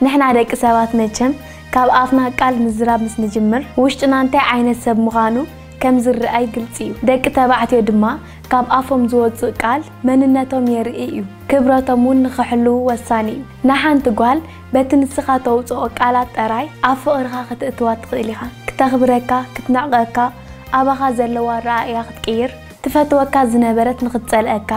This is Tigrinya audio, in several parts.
ንሕና ደቂ ሰባት መቸም ካብ ኣፍና ቃል ምዝራብ ምስ ንጅምር ውሽጥና እንታይ ዓይነት ሰብ ምኻኑ ከም ዝርኣይ ግልጺ እዩ። ደቂ ተባዕትዮ ድማ ካብ ኣፎም ዝወጽእ ቃል መንነቶም የርኢ እዩ። ክብረቶም ውን ንኽሕልዉ ወሳኒ እዩ። ንሓንቲ ጓል በቲ ንስኻ ተውጽኦ ቃላት ጠራይ ኣብ ፍቕርኻ ክትእትዋ ትኽእል ኢኻ። ክተኽብረካ፣ ክትንዕቀካ፣ ኣባኻ ዘለዋ ኣረኣእያ ክትቅይር፣ ትፈትወካ ዝነበረት ንኽትጸልኣካ፣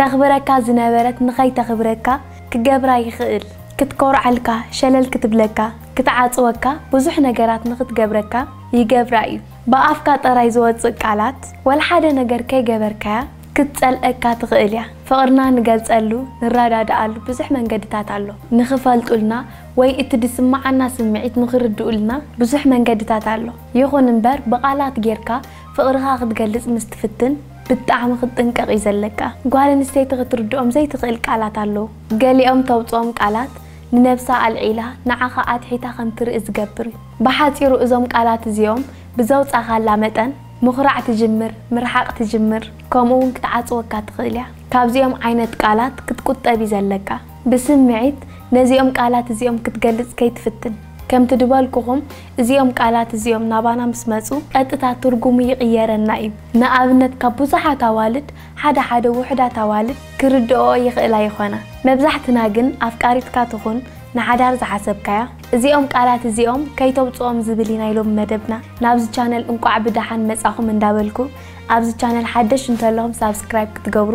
ተኽብረካ ዝነበረት ንኸይተኽብረካ፣ ክገብራ ይኽእል ክትኮርዓልካ ሸለል ክትብለካ ክትዓጽወካ ብዙሕ ነገራት ንኽትገብረካ ይገብራ እዩ ብኣፍካ ጥራይ ዝወጽእ ቃላት ወልሓደ ነገር ከይገበርካያ ክትጸልኣካ ትኽእል እያ ፍቕርና ንገልጸሉ ንራዳዳኣሉ ብዙሕ መንገድታት ኣሎ ንኽፈልጡልና ወይ እቲ ድስማዓና ስምዒት ንኽርድኡልና ብዙሕ መንገድታት ኣሎ ይኹን እምበር ብቓላት ጌርካ ፍቕርኻ ክትገልጽ ምስ ትፍትን ብጣዕሚ ክትጥንቀቅ እዩ ዘለካ ጓል ኣንስተይቲ ክትርድኦም ዘይትክእል ቃላት ኣለዉ ገሊኦም ተውጽኦም ቃላት ንነብሳ ኣልዒላ ንዓካ ኣትሒታ ከም ትርኢ ዝገብር እዩ ብሓጺሩ እዞም ቃላት እዚኦም ብዘውጻካላ መጠን ምኩራዕ ትጅምር ምርሓቅ ትጅምር ከምኡ ውን ክትዓጽወካ ትክእል እያ ካብዚኦም ዓይነት ቃላት ክትቁጠብ እዩ ዘለካ ብስምዒት ነዚኦም ቃላት እዚኦም ክትገልጽ ከይትፍትን ከምቲ ድበልኩኩም እዚኦም ቃላት እዚኦም ናባና ምስ መጹ ቀጥታ ትርጉሙ ይቕየረና እዩ። ንኣብነት ካብ ብዙሓት ኣዋልድ ሓደ ሓደ ውሑዳት ኣዋልድ ክርድእኦ ይኽእላ ይኾና። መብዛሕትና ግን ኣፍቃሪትካ ትኹን ንሓዳር ዝሓሰብካያ እዚኦም ቃላት እዚኦም ከይተውጽኦም ዝብል እዩ ናይ ሎሚ መደብና። ናብዚ ቻነል እንቋዕ ብደሓን መጻኹም እንዳበልኩ ኣብዚ ቻነል ሓደሽ እንተለኹም ሳብስክራይብ ክትገብሩ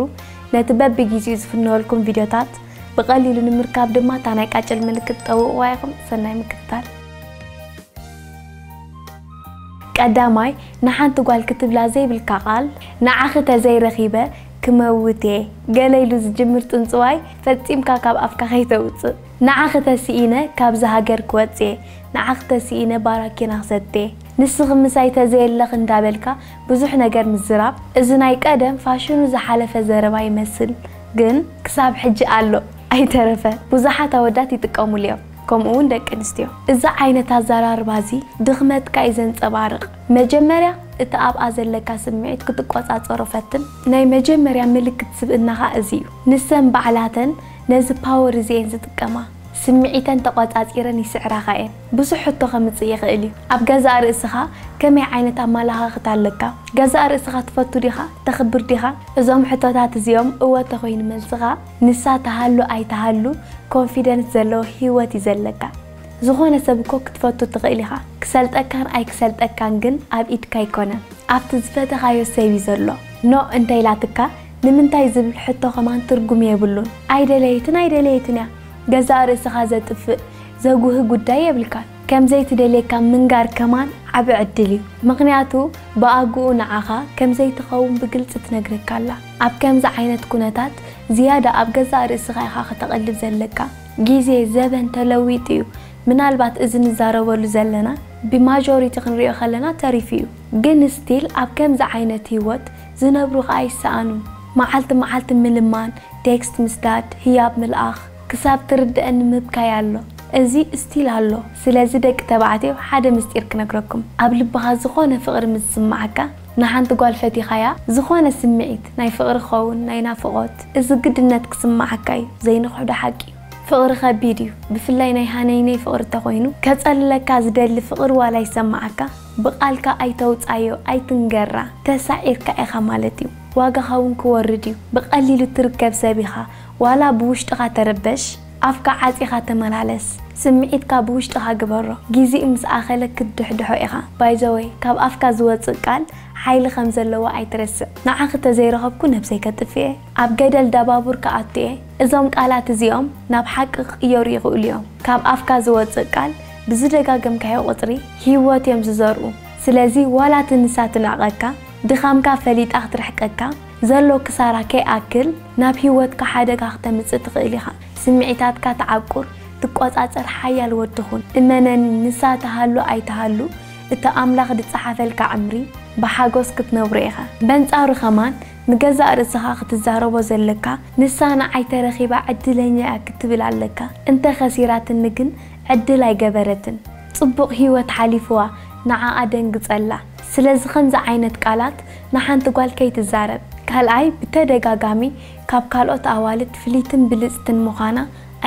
ነቲ በብጊዚኡ ዝፍነወልኩም ቪድዮታት ብቐሊሉ ንምርካብ ድማ እታ ናይ ቃጭል ምልክት ጠውቕዋ ኢኹም። ሰናይ ምክትታል። ቀዳማይ፣ ንሓንቲ ጓል ክትብላ ዘይብልካ ቃል፣ ንዓኺ ተዘይ ረኺበ ክመውት እየ ገለ ኢሉ ዝጅምር ጽንጽዋይ ፈጺምካ ካብ ኣፍካ ከይተውጽእ። ንዓኺ ተሲኢነ ካብዚ ሃገር ክወጽእ እየ፣ ንዓኺ ተሲኢነ ባራኪና ክሰቲ እየ፣ ንስኺ ምሳይ ተዘየለኺ እንዳበልካ ብዙሕ ነገር ምዝራብ፣ እዚ ናይ ቀደም ፋሽኑ ዝሓለፈ ዘረባ ይመስል። ግን ክሳብ ሕጂ ኣሎ ኣይተረፈ ቡዙሓት ኣወዳት ይጥቀሙሉ እዮም ከምኡ ውን ደቂ ኣንስትዮ እዚ ዓይነት ኣዛራርባ እዚ ድኽመትካ እዩ ዘንጸባርቅ መጀመርያ እቲ ኣብኣ ዘለካ ስምዒት ክትቆጻጸሮ ፈትን ናይ መጀመርያ ምልክት ስብእናኻ እዚ እዩ ንሰን ባዕላተን ነዚ ፓወር እዚ እየን ዝጥቀማ ስምዒተን ተቆጻጺረን ይስዕራኻ እየን ብዙሕ ሕቶ ከምጽእ ይኽእል እዩ። ኣብ ገዛእ ርእስኻ ከመይ ዓይነት ኣመለኻኽታ ኣለካ? ገዛእ ርእስኻ ትፈቱ ዲኻ? ተኽብር ዲኻ? እዞም ሕቶታት እዚኦም እወ እንተኾይኑ መልስኻ፣ ንሳ ትሃሉ ኣይትሃሉ ኮንፊደንስ ዘለዎ ህይወት እዩ ዘለካ። ዝኾነ ሰብ እኮ ክትፈቱ ትኽእል ኢኻ። ክሰልጠካን ኣይክሰልጠካን ግን ኣብ ኢድካ ኣይኮነን። ኣብቲ ዝፈተኻዮ ሰብ እዩ ዘሎ። ኖእ እንተኢላትካ ንምንታይ ዝብል ሕቶ ከማን ትርጉም የብሉን። ኣይደለየትን ኣይደለየትን እያ። ገዛእ ርእስኻ ዘጥፍእ ዘጉህ ጉዳይ የብልካን ከምዘይ ትደልየካ ምንጋር ከማን ዓቢ ዕድል እዩ ምክንያቱ ብኣጉኡ ንዓካ ከምዘይ ትከውን ብግልጺ ትነግረካ ኣላ ኣብ ከምዚ ዓይነት ኩነታት ዝያዳ ኣብ ገዛእ ርእስካ ኢካ ከተቅልብ ዘለካ ግዜ ዘበን ተለዊጡ እዩ ምናልባት እዚ ንዛረበሉ ዘለና ብ ማጆሪቲ ክንሪኦ ከለና ተሪፉ እዩ ግን ስቲል ኣብ ከምዚ ዓይነት ሂወት ዝነብሩ ከኣ ይሰኣኑ መዓልቲ መዓልቲ ምልማን ቴክስት ምስዳድ ህያብ ምልኣክ ክሳብ ትርደኣኒ ምብካይ ኣሎ እዚ እስቲል ኣሎ ስለዚ ደቂ ተባዕትዮ ሓደ ምስጢር ክነግረኩም ኣብ ልብካ ዝኮነ ፍቅሪ ምስ ዝስማዓካ ንሓንቲ ጓል ፈቲካያ ዝኮነ ስሚዒት ናይ ፍቅሪ ክከውን ናይ ናፍቆት እዚ ግድነት ክስማዓካ እዩ ዘይንክሕዶ ሓቂ እዩ ፍቅሪ ከቢድ እዩ ብፍላይ ናይ ሃነይነይ ፍቅሪ ተኮይኑ ከጸልለካ ዝደሊ ፍቅሪ ዋላ ይሰማዓካ ብቃልካ ኣይተውጻዮ ኣይትንገራ ተሳዒርካ ኢካ ማለት እዩ ዋጋካ ውን ክወርድ እዩ ብቀሊሉ እትርከብ ሰብ ኢካ ዋላ ብውሽጥኻ ተረበሽ ኣፍካ ዓጺኻ ተመላለስ ስምዒትካ ብውሽጥኻ ግበሮ ጊዚኡ ምስ ኣኸለ ክትድሕድሖ ኢኻ ባይዘወይ ካብ ኣፍካ ዝወጽእ ቃል ሓይሊ ከም ዘለዎ ኣይትረስዕ ንዓኺ ተዘይረኸብኩ ነብሰይ ከጥፍእየ ኣብ ገደል ዳባቡር ክኣቱየ እዞም ቃላት እዚኦም ናብ ሓቂ ክቕየሩ ይኽእሉ ዮም ካብ ኣፍካ ዝወጽእ ቃል ብዝደጋገምካዮ ቁጽሪ ሂወት ዮም ዝዘርኡ ስለዚ ዋላ እቲ ንሳ ትንዕቀካ ድኻምካ ፈሊጣ ክትርሕቀካ ዘሎ ክሳራ ከይኣክል ናብ ህይወትካ ሓደጋ ክተምጽእ ትኽእል ኢኻ። ስምዒታትካ ትዓቁር፣ ትቆጻጸር ሓያል ወዲ ኹን። እመነኒ ንሳ ትሃሉ ኣይትሃሉ እቲ ኣምላኽ ዝጸሓፈልካ ዕምሪ ብሓጎስ ክትነብሮ ኢኻ። በንጻሩ ከማን ንገዛእ ርእስኻ ክትዛረቦ ዘለካ ንሳ ንዓይ ተረኺባ ዕድለኛ'ያ ክትብል ኣለካ። እንተ ከሲራትኒ ግን ዕድል ኣይገበረትን። ጽቡቅ ሂወት ሓሊፍዋ ንዓ ኣደንግጸላ ስለዚ ከምዚ ዓይነት ቃላት ንሓንቲ ጓል ከይትዛረብ ካልኣይ ብተደጋጋሚ ካብ ካልኦት ኣዋልድ ፍልይትን ብልጽትን ምዃና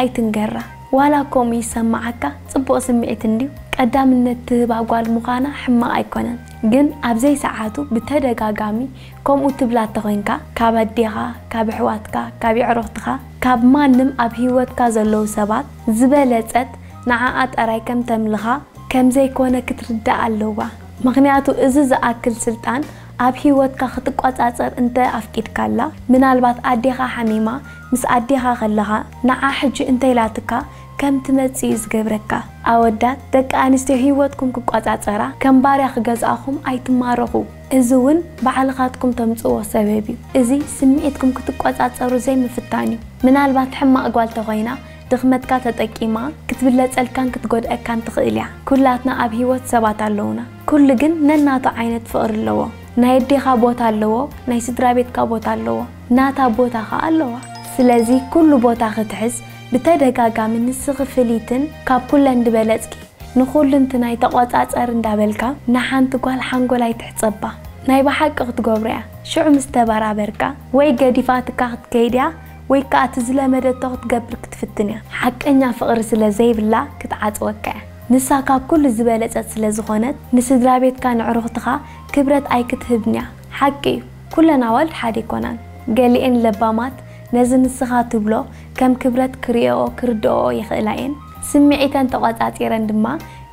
ኣይትንገራ ዋላ ከምኡ ይሰማዓካ ጽቡቅ ስምዒት እንድዩ ቀዳምነት ትህባ ጓል ምዃና ሕማቅ ኣይኮነን ግን ኣብ ዘይሰዓቱ ብተደጋጋሚ ከምኡ ትብላ ተኮንካ ካብ ኣዴኻ ካብ ኣሕዋትካ ካብ የዕሩኽትኻ ካብ ማንም ኣብ ሂወትካ ዘለዉ ሰባት ዝበለጸት ንዓኣ ጠራይ ከም ተምልኻ ከም ዘይኮነ ክትርዳእ ኣለዋ ምኽንያቱ እዚ ዝኣክል ስልጣን ኣብ ሂወትካ ክትቆጻጸር እንተ ኣፍቂድካላ ምናልባት ኣዴኻ ሓሚማ ምስ ኣዴኻ ከለኻ ንዓ ሕጂ እንተኢላትካ ከም ትመጽእ እዩ ዝገብረካ ኣወዳት ደቂ ኣንስትዮ ሂወትኩም ክቆጻጸራ ከም ባርያ ክገዝኣኹም ኣይትማረኹ እዚ ውን ባዕልኻትኩም ተምጽእዎ ሰበብ እዩ እዚ ስምዒትኩም ክትቆጻጸሩ ዘይምፍታን እዩ ምናልባት ሕማቅ ጓል ተኾይና ድኽመትካ ተጠቂማ ክትብለጸልካን ክትጎድኣካን ትኽእል እያ ኩላትና ኣብ ሂወት ሰባት ኣለዉና ኩሉ ግን ነናቱ ዓይነት ፍቅሪ ኣለዎ ናይ ኣዴኻ ቦታ ኣለዎ ናይ ስድራቤትካ ቦታ ኣለዎ ናታ ቦታ ኸኣ ኣለዋ ስለዚ ኩሉ ቦታ ክትሕዝ ብተደጋጋሚ ንስኺ ፍልይትን ካብ ኩለን ድበለጽኪ ንኹሉንትናይ ተቆጻጸሪ እንዳበልካ ንሓንቲ ጓል ሓንጎላ ኣይትሕጸባ ናይ ብሓቂ ክትገብሮ እያ ሽዑ ምስ ተበራበርካ ወይ ገዲፋትካ ክትከይድ እያ ወይ ከኣ እቲ ዝለመደቶ ክትገብር ክትፍትን እያ። ሓቀኛ ፍቕሪ ስለ ዘይብላ ክትዓጽወካ እያ። ንሳ ካብ ኩሉ ዝበለጸት ስለ ዝኾነት ንስድራቤትካ ነዕሩኽትኻ ክብረት ኣይክትህብን'ያ። ሓቂ እዩ ኩለን ኣዋልድ ሓደ ኣይኮናን። ገሊኤን ለባማት ነዚ ንስኻ ትብሎ ከም ክብረት ክርእየኦ ክርድኦኦ ይኽእላ እየን። ስምዒተን ተቖጻጺረን ድማ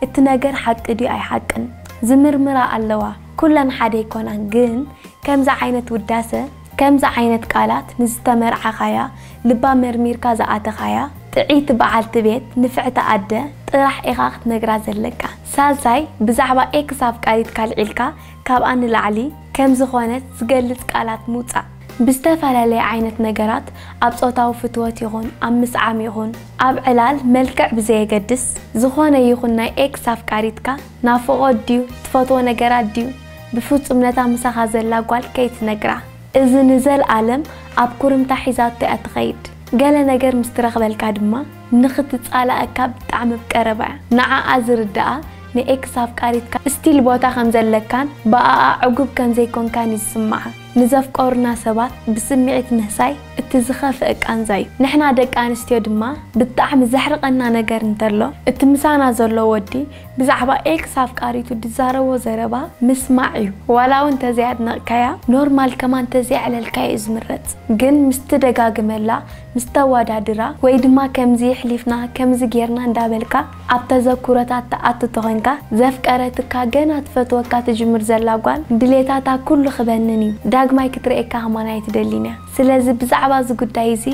እቲ ነገር ሓቂ ድዩ ኣይሓቅን ዝምርምራ ኣለዋ። ኩለን ሓደ ኣይኮናን ግን ከምዚ ዓይነት ውዳሰ። ከምዚ ዓይነት ቃላት ንዝተመርዓኻያ ልባ መርሚርካ ዝኣተኻያ ጥዕይቲ በዓልቲ ቤት፣ ንፍዕቲ ኣደ፣ ጥራሕ ኢኻ ክትነግራ ዘለካ። ሳልሳይ ብዛዕባ ኤክስ ኣፍቃሪትካ ኣልዒልካ ካብኣ ንላዕሊ ከም ዝኾነት ዝገልጽ ቃላት ምውጻእ። ብዝተፈላለየ ዓይነት ነገራት ኣብ ጾታዊ ፍትወት ይኹን ኣብ ምስዓም ይኹን ኣብ ዕላል መልክዕ ብዘየገድስ ዝኾነ ይኹን ናይ ኤክስ ኣፍቃሪትካ ናፍቖት ድዩ ትፈትዎ ነገራት ድዩ ብፍጹም ነታ ምሳኻ ዘላ ጓል ከይትነግራ እዚ ንዘልኣለም ኣብ ኩርምታ ሒዛቶ እያ ትኸይድ ገለ ነገር ምስ ትረኽበልካ ድማ ንኽትጻላኣካ ብጣዕሚ ብ ቀረባ እያ ንዓኣ ዝርድኣ ን ኤክስ ኣፍቃሪትካ እስቲል ቦታ ከም ዘለካን ብኣኣ ዕጉብ ከም ዘይኮንካን እዩ ዝስምዓ ንዘፍቀሩና ሰባት ብስሚዒት ምህሳይ እቲ ዝኸፍእ ቃንዛ እዩ ንሕና ደቂ ኣንስትዮ ድማ ብጣዕሚ ዘሕርቐና ነገር እንተሎ እቲ ምሳና ዘሎ ወዲ ብዛዕባ ኤክስ ኣፍቃሪቱ ድዛረቦ ዘረባ ምስማዕ እዩ ዋላ ውን ተዘይ ኣድነቅካያ ኖርማል ከማን ተዘይ ኣዕለልካያ እዩ ዝምረጽ ግን ምስ ትደጋግመላ ምስ ተዋዳድራ ወይ ድማ ከምዚ ይሕሊፍና ከምዚ ጌርና እንዳበልካ ኣብ ተዘኩሮታት ትኣቱ ተኮንካ ዘፍቀረትካ ገና ትፈትወካ ትጅምር ዘላ ጓል ድሌታታ ኩሉ ክበንን እዩ ዳግማይ ክትርኤካ ከማን ኣይትደሊን እያ ስለዚ ብዛዕባ እዚ ጉዳይ እዚ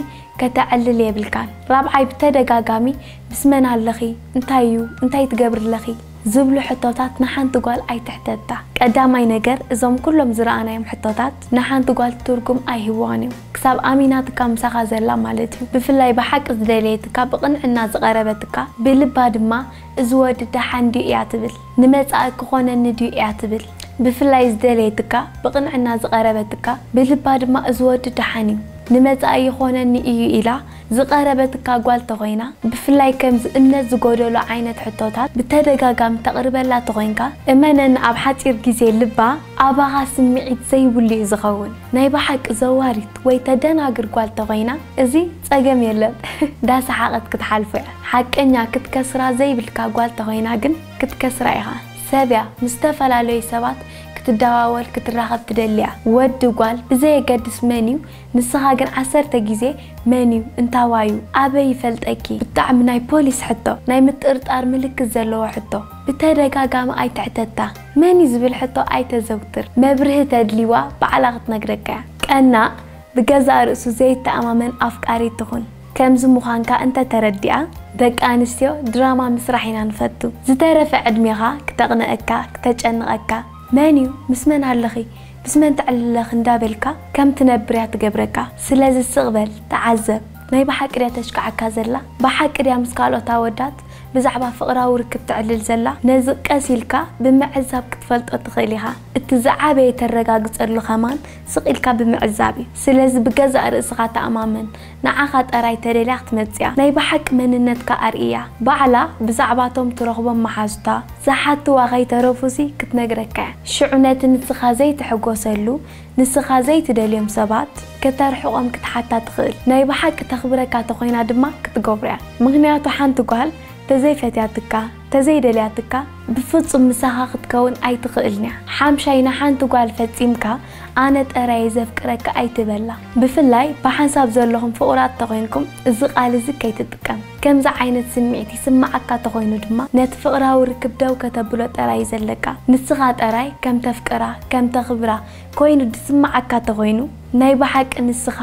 ከተዕልል የብልካን ራብዓይ ብተደጋጋሚ ምስ መን ኣለኺ እንታይ እዩ እንታይ ትገብሪ ኣለኺ ዝብሉ ሕቶታት ንሓንቲ ጓል ኣይትሕተታ ቀዳማይ ነገር እዞም ኩሎም ዝረኣናዮም ሕቶታት ንሓንቲ ጓል ትርጉም ኣይህብዋን እዮም ክሳብ ኣሚናትካ ምሳኻ ዘላ ማለት እዩ ብፍላይ ብሓቂ ዝደለየትካ ብቅንዕና ዝቀረበትካ ብልባ ድማ እዚ ወዲ ደሓን ድዩ እያ ትብል ንመጻኢ ክኾነኒ ድዩ እያ ትብል ብፍላይ ዝደለየትካ ብቕንዕና ዝቐረበትካ ብልባ ድማ እዚ ወዲ ደሓን እዩ ንመጻኢ ይኾነኒ እዩ ኢላ ዝቐረበትካ ጓል ተኾይና ብፍላይ ከምዚ እምነት ዝጎደሎ ዓይነት ሕቶታት ብተደጋጋሚ ተቕርበላ ተኾይንካ እመነኒ ኣብ ሓጺር ግዜ ልባ ኣባኻ ስምዒት ዘይብሉ እዩ ዝኸውን ናይ ብሓቂ ዘዋሪት ወይ ተደናግር ጓል ተኾይና እዚ ጸገም የለን እንዳ ሰሓቀት ክትሓልፎ እያ ሓቀኛ ክትከስራ ዘይብልካ ጓል ተኮይና ግን ክትከስራ ኢካ ሰብ እያ ምስ ዝተፈላለዩ ሰባት ክትደዋወል ክትራከብ ትደሊ እያ ወዲ ጓል ብዘየገድስ መን እዩ ንስካ ግን ዓሰርተ ግዜ መን እዩ እንታዋይ እዩ ኣበይ ይፈልጠኪ ብጣዕሚ ናይ ፖሊስ ሕቶ ናይ ምጥርጣር ምልክት ዘለዎ ሕቶ ብተደጋጋሚ ኣይትሕተታ መን እዩ ዝብል ሕቶ ኣይተዘውትር መብርሂ ተድሊዋ ባዕላ ክትነግረካ እያ ቀናእ ብገዛእ ርእሱ ዘይተኣማመን ኣፍቃሪት ትኹን። ከምዚ ምዃንካ እንተ ተረዲኣ ደቂ ኣንስትዮ ድራማ ምስራሕ ኢና ንፈቱ። ዝተረፈ ዕድሜኻ ክተቕንኣካ ክተጨንቐካ መን እዩ ምስ መን ኣለኺ ምስ መን ተዕልለኺ እንዳ በልካ ከም ትነብር እያ ትገብረካ። ስለዚ ስቕ በል ተዓዘብ። ናይ ብሓቂ ድያ ተሽክዓካ ዘላ? ብሓቂ ድያ ምስ ካልኦት ኣወዳት ብዛዕባ ፍቕራዊ ርክብ ተዕልል ዘላ? ነዚ ቀስ ኢልካ ብምዕዛብ ክትፈልጦ ትኽእል ኢኻ። እቲ ዝዓበየ ተረጋግጸሉ ከማን ስቕ ኢልካ ብምዕዛብ እዩ። ስለዚ ብገዛእ ርእስኻ ተኣማመን። ንዓኻ ጠራይ ተደልያ ክትመጽእያ። ናይ ብሓቂ መንነትካ ኣርእያ። ባዕላ ብዛዕባቶም ትረኽቦም መሓዙታ ዝሓትዋ ከይተረፉሲ ክትነግረካ እያ። ሽዑ ነቲ ንስኻ ዘይትሕጎሰሉ፣ ንስኻ ዘይትደልዮም ሰባት ከተርሕቖም ክትሓታ ትኽእል። ናይ ብሓቂ ተኽብረካ ተኾይና ድማ ክትገብሮ እያ። ምኽንያቱ ሓንቲ ጓል ተዘይፈትያትካ፣ ተዘይደልያትካ ብፍጹም ምሳኻ ክትከውን ኣይትኽእልን'ያ። ሓምሻይ ንሓንቲ ጓል ፈጺምካ ኣነ ጠራይ'የ ዘፍቅረካ ኣይትበላ። ብፍላይ ብሓንሳብ ዘለኹም ፍቑራት ተኾይንኩም እዚ ቃል እዚ ከይትጥቀም። ከምዚ ዓይነት ስምዒት ይስምዓካ ተኾይኑ ድማ ነቲ ፍቕራዊ ርክብ ደው ከተብሎ ጠራይ'ዩ ዘለካ። ንስኻ ጠራይ ከም ተፍቅራ ከም ተኽብራ ኮይኑ ዝስምዓካ ተኾይኑ ናይ ብሓቂ ንስኻ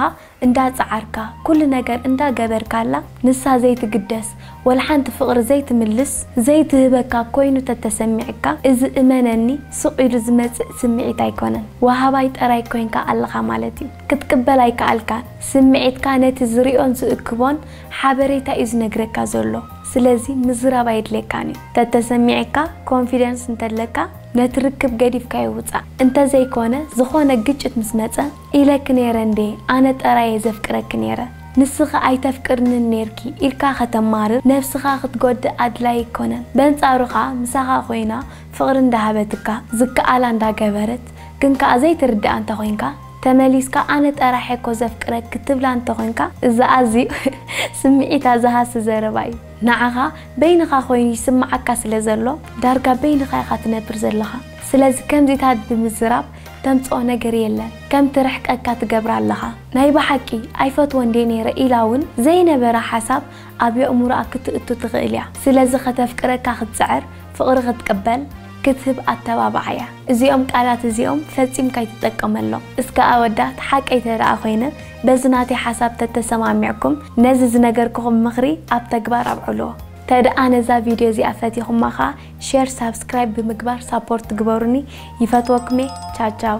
እንዳ ጸዓርካ ኩሉ ነገር እንዳ ገበርካላ ንሳ ዘይትግደስ ወልሓንቲ ፍቅሪ ዘይትምልስ ዘይትህበካ ኮይኑ ተተሰሚዕካ እዚ እመነኒ ሱቅ ኢሉ ዝመጽእ ስሚዒት ኣይኮነን ዋሃባይ ጠራይ ኮንካ ኣለኻ ማለት እዩ ክትቅበል ኣይካኣልካን ስሚዒትካ ነቲ ዝሪኦን ዝእክቦን ሓበሬታ እዩ ዝነግረካ ዘሎ ስለዚ ምዝራብ ኣየድልየካን እዩ ተተሰሚዕካ ኮንፊደንስ እንተለካ ነቲ ርክብ ገዲፍካዮ ውጻእ እንተዘይኮነ ዝኾነ ግጭት ምስ መጸ ኢለኪ ነይረ እንዴ ኣነ ጠራየ ዘፍቅረኪ ነይረ ንስኺ ኣይተፍቅርንን ነይርኪ ኢልካ ከተማርር ነብስኻ ክትጎድእ ኣድላይ ኣይኮነን በንጻሩ ከኣ ምሳኻ ኮይና ፍቅሪ እንዳሃበትካ ዝከኣላ እንዳገበረት ግን ከኣ ዘይትርዳኣ እንተኮይንካ ተመሊስካ ኣነ ጠራሕ እየኮ ዘፍቅረኪ ትብላ እንተኮንካ እዚ ኣዝዩ ስምዒታ ዝሃሲ ዘረባ እዩ ንዓኻ በይንኻ ኮይኑ ይስምዓካ ስለ ዘሎ ዳርጋ በይንኻ ኢኻ ትነብር ዘለኻ ስለዚ ከምዚታት ብምዝራብ ተምጽኦ ነገር የለን ከም ትርሕቀካ ትገብራ ኣለኻ ናይ ብሓቂ ኣይፈትዎን ድየ ነይረ ኢላ ውን ዘይነበራ ሓሳብ ኣብ የእሙሮኣ ክትእቱ ትኽእል እያ ስለዚ ከተፍቅረካ ክትጽዕር ፍቕሪ ክትቅበል ክትህብ ኣተባብዓያ እዚኦም ቃላት እዚኦም ፈጺም ካይትጠቀመሎም እስከ ኣወዳት ሓቀይ ተደኣ ኮይነ በዚ ናተይ ሓሳብ ተተሰማሚዕኩም ነዚ ዝነገርኩኹም ምኽሪ ኣብ ተግባር ኣብዕልዎ ተደኣ ነዛ ቪድዮ እዚኣ ፈቲኹማ ከኣ ሼር ሳብስክራይብ ብምግባር ሳፖርት ግበሩኒ ይፈትወኩምየ ቻው ቻው።